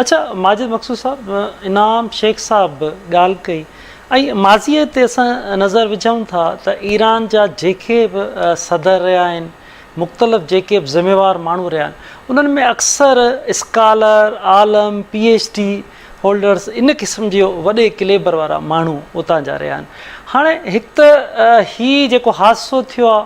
اچا ماجد مقصود صاحب، انعام شيخ صاحب به ڳالهه ڪئي ۽ ماضيء تي اسان نظر وجهون ٿا ته ايران جا جيڪي به صدر رهيا آهن، مختلف جيڪي به ذميوار ماڻهو رهيا آهن، انهن ۾ اڪثر اسڪالر، عالم، پي ايڇ ڊي هولڊرز ان قسم جي وڏي ڪليبر وارا ماڻهو اتان جا رهيا آهن. هاڻي هڪ ته هي جيڪو حادثو ٿيو آهي،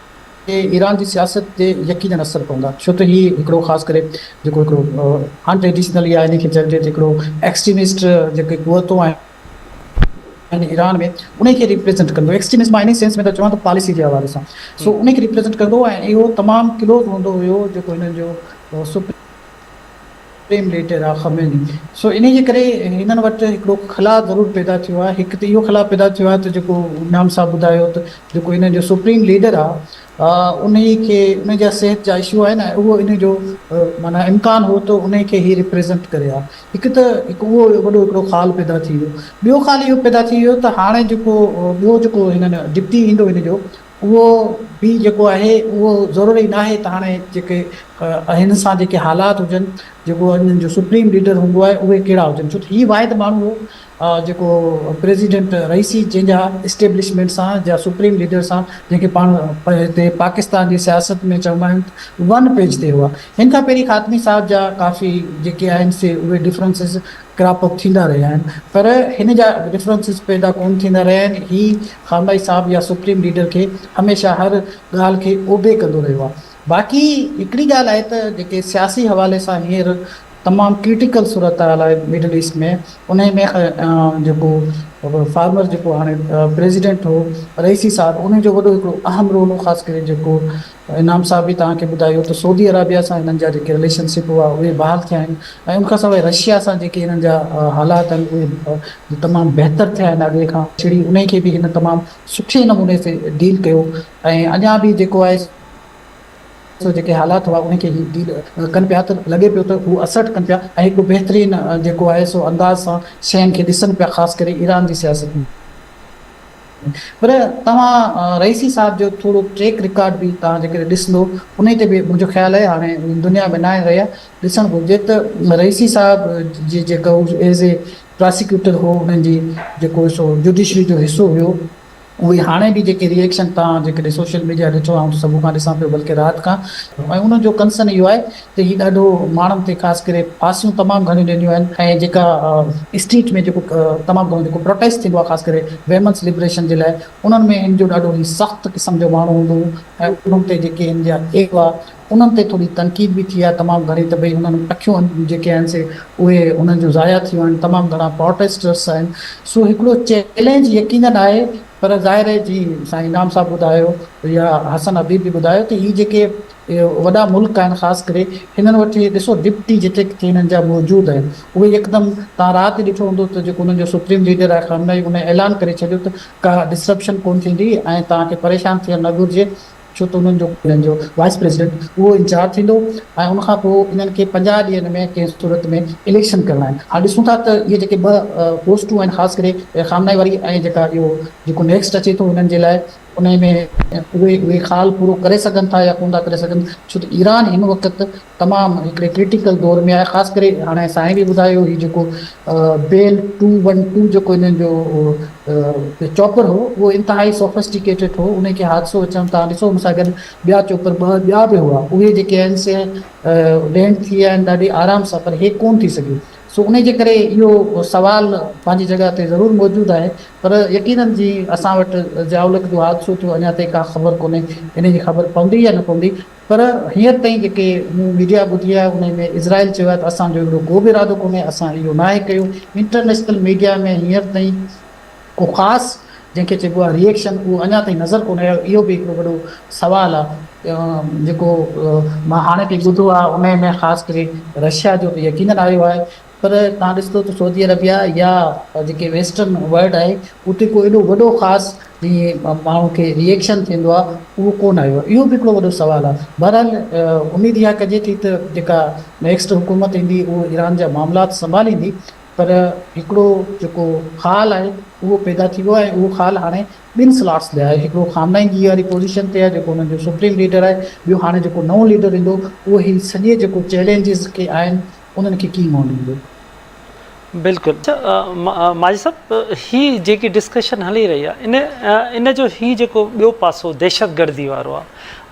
تي ايران جي سياست تي يقينن اثر پوندا ڇو ته هي هڪڙو خاص ڪري جيڪو هڪڙو ان ٽريڊيشنل يا انهي کي چئجي ته هڪڙو ايڪسٽريمسٽ جيڪي قوتون آهن ايران ۾ انهي کي ريپريزنٽ ڪندو ايڪسٽريمسٽ مان انهي سينس ۾ ٿو چوان ته پاليسي جي حوالي سان سو انهي کي ريپريزنٽ ڪندو ۽ اهو تمام ڪلوز هوندو هيو جيڪو هنن جو سپريم پريم ليٽر آ خميني سو انهي جي ڪري هنن وٽ هڪڙو خلا ضرور پيدا ٿيو آ هڪ ته اهو خلا پيدا ٿيو آ ته جيڪو نعام صاحب ٻڌايو ته جيڪو هنن جو سپريم ليڊر آ انهي کي انهي جا صحت جا اشو آهن ۽ اهو انهي جو معنيٰ امڪان هو ته انهي کي هي ريپريزنٽ ڪري آ هڪ ته هڪ اهو وڏو هڪڙو خال پيدا ٿي ويو ٻيو خال اهو پيدا ٿي ويو ته هاڻي جيڪو ٻيو جيڪو هنن ڊپٽي ايندو هن جو اهو به جيڪو آهي اهو ضروري ناهي ته هاڻي جيڪي هن سان جيڪي حالات هجن جيڪو انهن جو سپريم ليڊر هوندو آهي اهي ڪهڙا هجن ڇو ته هي واحد ماڻهو هو جيڪو پريزيڊنٽ رئيسي جنهن جا اسٽيبلشمينٽ سان جا سپريم ليڊر سان جنهن کي پاڻ هتي پاڪستان جي سياست ۾ چوندا آهن ون پيج تي هئا هن کان پهرين خاتمي صاحب جا ڪافي جيڪي آهن سي اهي ڊفرنسز ڪراپ اپ ٿيندا رهيا آهن پر هن جا ڊفرنسز پيدا ڪونه ٿيندا رهيا آهن هي خامنائي صاحب يا سپريم ليڊر کي هميشه هر ڳالهه کي اوبي ڪندو رهيو آهي باقي هڪڙي ڳالهه آهي ته جيڪي سياسي حوالي سان هينئر تمام ڪرٽيڪل صورتحال آهي مڊل ايسٽ ۾ انهي ۾ جيڪو فارمر جيڪو هاڻي پريزيڊنٽ هو رئيسي صاحب انهي جو وڏو هڪڙو اهم رول هو خاص ڪري جيڪو انعام صاحب به توهان کي ٻڌايو ته سعودي عرابيه سان هنن جا جيڪي رليشن شپ هئا اهي بحال ٿيا آهن ۽ ان کان سواء رشيا سان جيڪي هنن جا حالات آهن اهي به تمام بهتر ٿيا آهن اڳي کان ڇڙي انهي کي به هن تمام سٺي نموني سي ڊيل ڪيو ۽ اڃا به جيڪو آهي سو جيڪي حالات هئا انهي کي هي ڊيل ڪن پيا ته لڳي پيو ته هو اسرٽ ڪن پيا ۽ هڪڙو بهترين جيڪو آهي سو انداز سان شين کي ڏسن پيا خاص ڪري ايران جي سياست ۾. پر توهان رئيسي صاحب جو ٿورو ٽريڪ رڪارڊ به توهان جيڪڏهن ڏسندو انهي تي به منهنجو خيال اهي هاڻي دنيا ۾ ناهي رهيا ڏسڻ گهرجي ته رئيسي صاحب جي جيڪا هو ايز اي پراسيڪيوٽر هو انهن جي جيڪو سو جوڊيشري جو حصو هيو اهي هاڻي به جيڪي ريئڪشن توهان جيڪڏهن سوشل ميڊيا ڏٺو آئون ته صبح کان ڏسان پيو بلڪه رات کان ۽ انهن جو ڪنسرن اهو آهي ته هي ڏاڍو ماڻهن کي خاص ڪري ڦاسيون تمام گهڻيون ڏينديون آهن ۽ جيڪا اسٽريٽ ۾ جيڪو تمام گهڻو جيڪو پروٽيسٽ ٿيندو آهي خاص ڪري ويمنس لبريشن جي لاء انهن ۾ هن جو ڏاڍو هي سخت قسم جو ماڻهو هوندو هو ۽ انهن تي جيڪي هن جا اغوا انهن تي ٿوري تنقيد به ٿي آهي تمام گهڻي ته ڀئي انهن اکيون جيڪي آهن سي اهي انهن جون ضايع ٿيون آهن تمام گهڻا پروٽيسٽرس آهن سو هڪڙو چئلينج يقينن آهي پر ظاهر آهي جي سائين انعام صاحب ٻڌايو يا حسن حبيب به ٻڌايو ته هي جيڪي اهي وڏا ملڪ آهن خاص ڪري هنن وٽ اهي ڏسو ڊپٽي جيڪي ڪٿي هنن جا موجود آهن اهي يڪدم تهان رات ڏٺو هوندو ته جيڪو هنن جو سپريم ليڊر آهي خامنائي ان اعلان ڪري ڇڏيو ته ڪا ڊسرپشن ڪون ٿيندي ۽ تهان کي پريشان ٿيڻ نه گهرجي ڇو ته انهن جو هنن جو وائيس پريزيڊنٽ اهو انچارج ٿيندو ۽ ان کان پوء انهن کي پنجاهه ڏينهن ۾ ڪنهن صورت ۾ اليڪشن ڪرڻا آهن هاڻ ڏسون ٿا ته اهي جيڪي ٻه پوسٽون آهن خاص ڪري خامنائي واري ۽ جيڪا اهو جيڪو نيڪسٽ اچي ٿو هنن جي لاء انهيء ۾ اهي اهي خال پورو ڪري سگهن ٿا يا ڪونه ٿا ڪري سگهن ڇو ته ايران هن وقت تمام هڪڙي ڪرٽيڪل دور ۾ آهي خاص ڪري هاڻي سائين به ٻڌايو هي جيڪو بيل ٽو ون ٽو جيڪو انهن جو چوپر هو اهو انتهائي سوفسٽيڪيٽيڊ هو انهي کي حادثو اچڻ تان ڏسو ان سان گڏ ٻيا چوپر ٻه ٻيا به هئا اهي جيڪي آهن سي لينڊ ٿي ويا آهن ڏاڍي آرام سان پر هي ڪونه ٿي سگهيو سو انهي جي ڪري اهو سوال پنهنجي جڳهه تي ضرور موجود آهي پر يقينن جي اسان وٽ ضياءالحق جو حادثو ٿيو اڃا تائين ڪا خبر ڪونهي انهي جي خبر پوندي يا نه پوندي پر هينئر تائين جيڪي مون ميڊيا ٻڌي آهي انهي ۾ اسرائيل چيو آهي ته اسان جو اهڙو ڪو به ارادو ڪونهي اسان اهو ناهي ڪيو انٽرنيشنل ميڊيا ۾ هينئر تائين ڪو خاص جنهن کي چئبو آهي ريئڪشن اهو اڃا تائين نظر ڪونه آيو اهو به هڪڙو وڏو سوال آهي جيڪو مان هاڻي تائين ٻڌو آهي انهي ۾ خاص ڪري رشيا جو ته يقينن آيو آهي پر تان ڏسندو ته سعودي عربيا يا جيڪي ويسٽرن ورلڊ آهي اتي ڪو ايڏو وڏو خاص جيئن ماڻهو کي ريئڪشن ٿيندو آهي اهو ڪونه آيو آهي اهو به هڪڙو وڏو سوال آهي بهرحال اميد اها ڪجي ٿي ته جيڪا نيڪسٽ حڪومت ايندي اهو ايران جا معاملات سنڀاليندي پر هڪڙو جيڪو خال آهي اهو پيدا ٿي ويو آهي ۽ اهو خال هاڻي ٻن سلاٽس تي آهي هڪڙو خامنائي جي واري پوزيشن تي آهي جيڪو انهن جو سپريم ليڊر آهي ٻيو هاڻي جيڪو نئون ليڊر ايندو اهو هي سڄي جيڪو چئلينجز ڪي آهن انهن کي ڪيئن منهن ڏيندو. بلڪل ماجد صاحب هي جيڪي ڊسڪشن هلي رهي آهي ان جو هي جيڪو ٻيو پاسو دهشتگردي وارو آهي.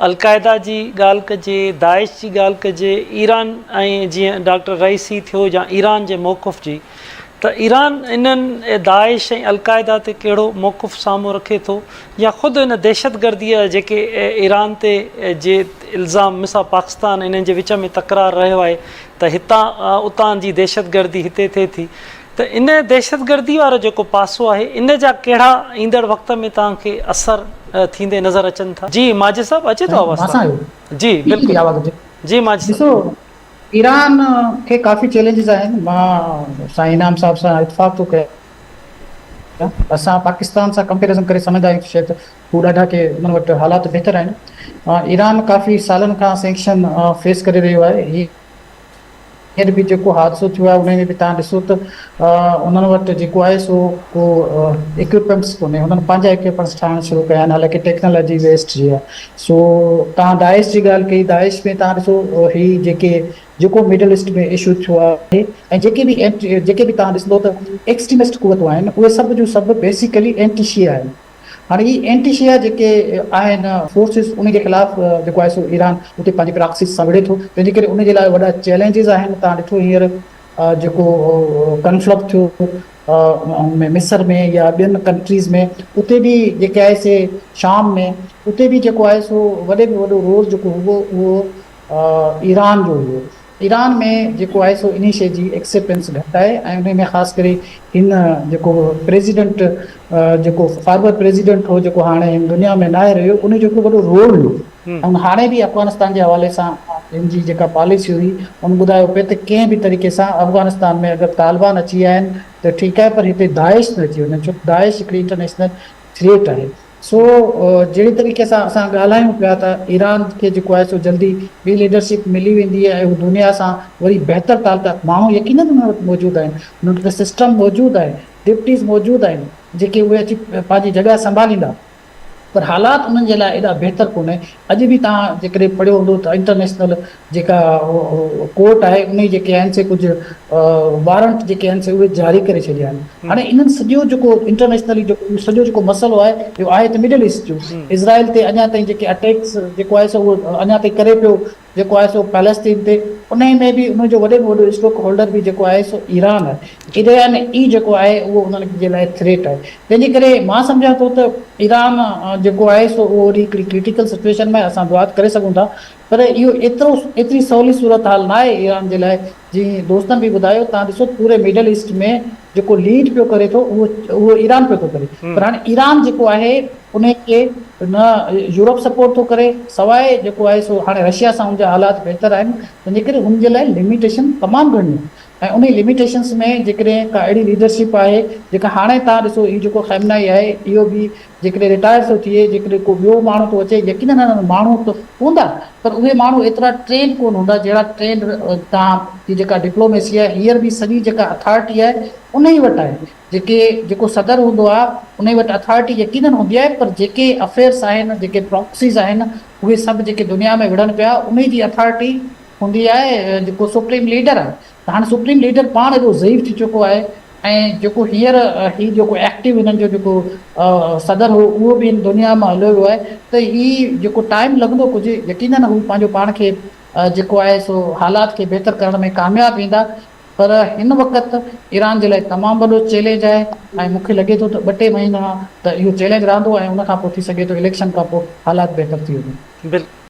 القاعده جي ڳالهه ڪجي، داعش جي ڳالهه ڪجي، ايران ۽ جيئن ڊاڪٽر رئيسي ٿيو يا ايران جي موقف جي ته ايران انهن داعش ۽ القاعده تي ڪهڙو موقف سامهون رکي ٿو يا خود ان دهشتگردي جا جيڪي ايران تي جي الزام مثال پاڪستان انهن جي وچ ۾ تڪرار رهيو آهي ته هتان اتان جي دهشتگردي هتي ٿئي ٿي ته ان دهشتگردي وارو جيڪو پاسو آهي ان جا ڪهڙا ايندڙ وقت ۾ توهان کي اثر ٿيندي نظر اچن ٿا؟ جي ماجد صاحب اچي ٿو آواز توهان جو؟ جي بلڪل جي ماجد صاحب. ڏسو ايران کي ڪافي چئلينجز آهن مان سائين انعام صاحب سان اتفاق ٿو ڪيان اسان پاڪستان سان ڪمپيرزن ڪري سمجهندا آهيون ته شايد هو ڏاڍا ڪي انهن وٽ حالات بهتر آهن ايران ڪافي سالن کان سينڪشن فيس ڪري رهيو آهي هي خير به جيڪو حادثو ٿيو آهي انهي ۾ به تهان ڏسو ته انهن وٽ جيڪو آهي سو ڪو اڪيوپمينٽس ڪونهي انهن پنهنجا اڪيوپمينٽس ٺاهڻ شروع ڪيا آهن حالانڪه ٽيڪنالاجي ويسٽ جي آهي سو تهان داعش جي ڳالهه ڪئي داعش ۾ تهان ڏسو هي جيڪي جيڪو مڊل ايسٽ ۾ اشو ٿيو آهي ۽ جيڪي به جيڪي به تهان ڏسندو ته ايڪسٽريمسٽ قوتون آهن اهي سڀ جون سڀ بيسيڪلي اينٽي شيعا آهن هاڻي هي اينٽي شيعا جيڪي آهن فورسز ان جي خلاف جيڪو آهي سو ايران اتي پنهنجي پراڪسيز سان وڙهي ٿو تنهنجي ڪري ان جي لاء وڏا چئلينجز آهن تان ڏٺو هينئر جيڪو ڪنفلڪ ٿيو مصر ۾ يا ٻين ڪنٽريز ۾ اتي به جيڪي آهي سي شام ۾ اتي به جيڪو آهي سو وڏي ۾ وڏو رول جيڪو هئو اهو ايران جو هئو. ايران ۾ جيڪو آهي سو انهي شيء جي ايڪسيپٽنس گهٽ آهي ۽ انهي ۾ خاص ڪري هن جيڪو پريزيڊنٽ جيڪو فارمر پريزيڊنٽ هو جيڪو هاڻي هن دنيا ۾ ناهي رهيو انهي جو هڪڙو وڏو رول هو ۽ هاڻي به افغانستان جي حوالي سان هن جي جيڪا پاليسي هئي هن ٻڌايو پئي ته ڪنهن به طريقي سان افغانستان ۾ اگر طالبان اچي آيا آهن ته ٺيڪ آهي پر هتي داعش نه اچي وڃن ڇو ته داعش هڪڙي انٽرنيشنل ٿريٽ آهي. سو جهڙي طريقي سان اسان ڳالهايون پيا ته ايران کي جيڪو آهي سو جلدي ٻي ليڊرشپ ملي ويندي ۽ هو دنيا سان وري بهتر تعلقات ماڻهو يقينن انهن وٽ موجود آهن انهن وٽ سسٽم موجود آهي ڊپٽيز موجود آهن جيڪي اهي اچي پنهنجي جڳهه سنڀاليندا پر حالات انهن جي لاء ايڏا بهتر ڪونهي اڄ به توهان جيڪڏهن پڙهيو هوندو ته انٽرنيشنل جيڪا ڪورٽ آهي انهي جيڪي آهن سي ڪجهه وارنٽ جيڪي آهن سي اهي جاري ڪري ڇڏيا آهن هاڻي انهن سڄو جيڪو انٽرنيشنلي جيڪو سڄو جيڪو مسئلو آهي اهو آهي ته مڊل ايسٽ جو اسرائيل تي اڃا تائين جيڪي اٽيڪس جيڪو آهي سو اڃا تائين ڪري پيو جيڪو آهي سو پيلسٽين تي انهي ۾ به انهن جو وڏي ۾ وڏو اسٽوڪ هولڊر به جيڪو آهي سو ايران آهي ايران ئي جيڪو آهي اهو انهن جي لاء ٿريٽ آهي تنهن جي ڪري مان سمجهان ٿو ته ايران جيڪو آهي سو اهو وري هڪڙي ڪرٽيڪل سچويشن ۾ اسان دعا ته ڪري سگهون ٿا پر اهو ايترو ايتري سولي صورتحال ناهي ايران جي لاء، جيئن دوستن به ٻڌايو توهان ڏسو پوري مڊل ايسٽ ۾ جيڪو ليڊ پيو ڪري ٿو اهو اهو ايران پيو ٿو ڪري پر هاڻي ايران جيڪو آهي ان کي نه يورپ سپورٽ ٿو ڪري سواء جيڪو آهي سو هاڻي رشيا سان ان جا حالات بهتر آهن تنهنجي ڪري ان جي لاء لميٽيشن تمام گهڻيون آهن ۽ انهي لميٽيشنس ۾ جيڪڏهن ڪا اهڙي ليڊرشپ آهي جيڪا هاڻي توهان ڏسو هي جيڪو خيمنائي آهي اهو به جيڪڏهن رٽائر ٿو ٿئي، جيڪڏهن ڪو ٻيو ماڻهو ٿو اچي، يقينن انهن وٽ ماڻهو ته هوندا پر اهي ماڻهو ايترا ٽرينڊ ڪونه هوندا جهڙا ٽرينڊ هتان جي جيڪا ڊپلوميسي آهي هينئر به سڄي جيڪا اٿارٽي آهي انهي وٽ آهي جيڪي جيڪو صدر هوندو آهي انهي وٽ اٿارٽي يقينن هوندي آهي پر جيڪي افيئرس آهن جيڪي پراڪسيز آهن اهي سڀ جيڪي دنيا ۾ وڙهن پيا انهي جي اٿارٽي هوندي آهي جيڪو سپريم ليڊر آهي ته هاڻي سپريم ليڊر پاڻ ايڏو ضعيف ٿي چڪو آهي ۽ جيڪو هينئر هي جيڪو ايڪٽيو هنن جو جيڪو صدر هو اهو به هن دنيا مان هليو ويو آهي ته هي جيڪو ٽائيم لڳندو ڪجهه يقينن هو پنهنجو پاڻ کي جيڪو آهي سو حالات کي بهتر ڪرڻ ۾ ڪامياب ويندا پر هن وقت ايران جي لاء تمام وڏو چئلينج آهي ۽ مون کي لڳي ٿو ته ٻه ٽي مهينا ته اهو چئلينج رهندو ۽ ان کان پوء ٿي سگهي ٿو اليڪشن کان پوء حالات بهتر ٿي وڃن.